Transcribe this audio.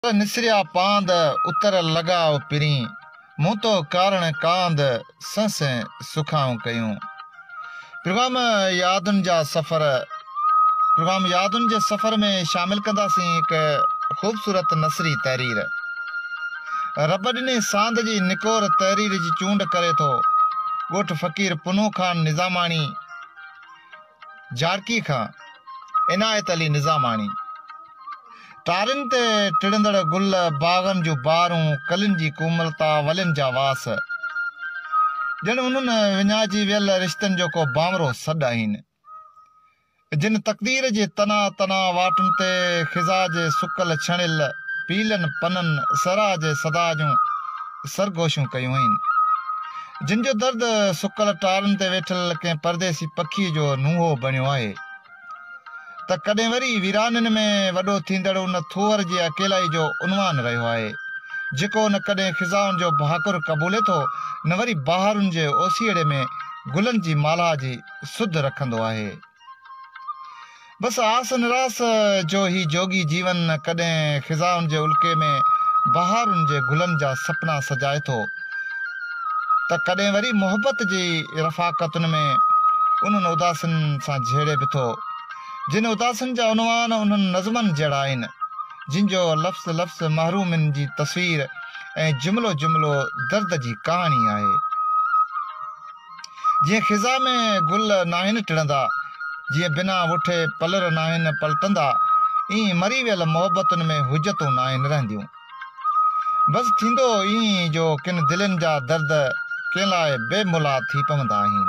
ته نسريا پاند، اتر لڳاء پرين، مون تو ڪارڻ ڪاند، سنء سنء سکائون ڪيون. پروگرام يادن جا سفر پروگرام يادن جي سفر ۾ شامل ڪنداسين هڪ خوبصورت نثري تحرير. رب ڏني ساند جي نڪور تحرير جي چونڊ ڪري ٿو ڳوٺ فقير پنهون خان نظاماڻي، جارڪي کان عنايت علي نظاماڻي، ٽارين تي ٽڙندڙ گل، باغن جون بهارون، ڪلين جي ڪوملتا، ولين جا واس، ڄڻ انهن وڃائجي ويل رشتن جو ڪو بانورو سڏ آهن، جن تقدير جي تنا تنا واٽن تي خزا جي سڪل ڇڻيل پيلن پنن صحرا جي صدا جون سرگوشيون ڪيون آهن. جن جو درد سڪل ٽارن تي ويٺل ڪنهن پرديسي پکيء جو نونهو بڻيو آهي ته ڪڏهن وري ويرانين ۾ وڏو ٿيندڙ ان ٿوهر جي اڪيلائي جو عنوان رهيو آهي جيڪو نه ڪڏهن خزائن جو ڀاڪر قبولي ٿو نه وري بهارن جي اوسيئڙي ۾ گلن جي مالها جي سڌ رکندو آهي. بس آس نراس جو هي جوڳي جيون ڪڏهن خزائن جي الڪي ۾ بهارن جي گلن جا سپنا سجائي ٿو ته ڪڏهن وري محبت جي رفاقتن ۾ انهن اداسين سان جهيڙي به ٿو جن اداسين جا عنوان انهن نظمن جهڙا آهن جن جو لفظ لفظ محرومين جي تصوير ۽ جملو جملو درد جي ڪهاڻي آهي جيئن خزان ۾ گل ناهن ٽڙندا، جيئن بنا وٺي پلر ناهن پلٽندا، ائين مري ويل محبتن ۾ حجتون ناهن رهنديون. بس ٿيندو ائين ئي جو ڪن دلين جا درد ڪنهن لاء بي ملها ٿي پوندا آهن.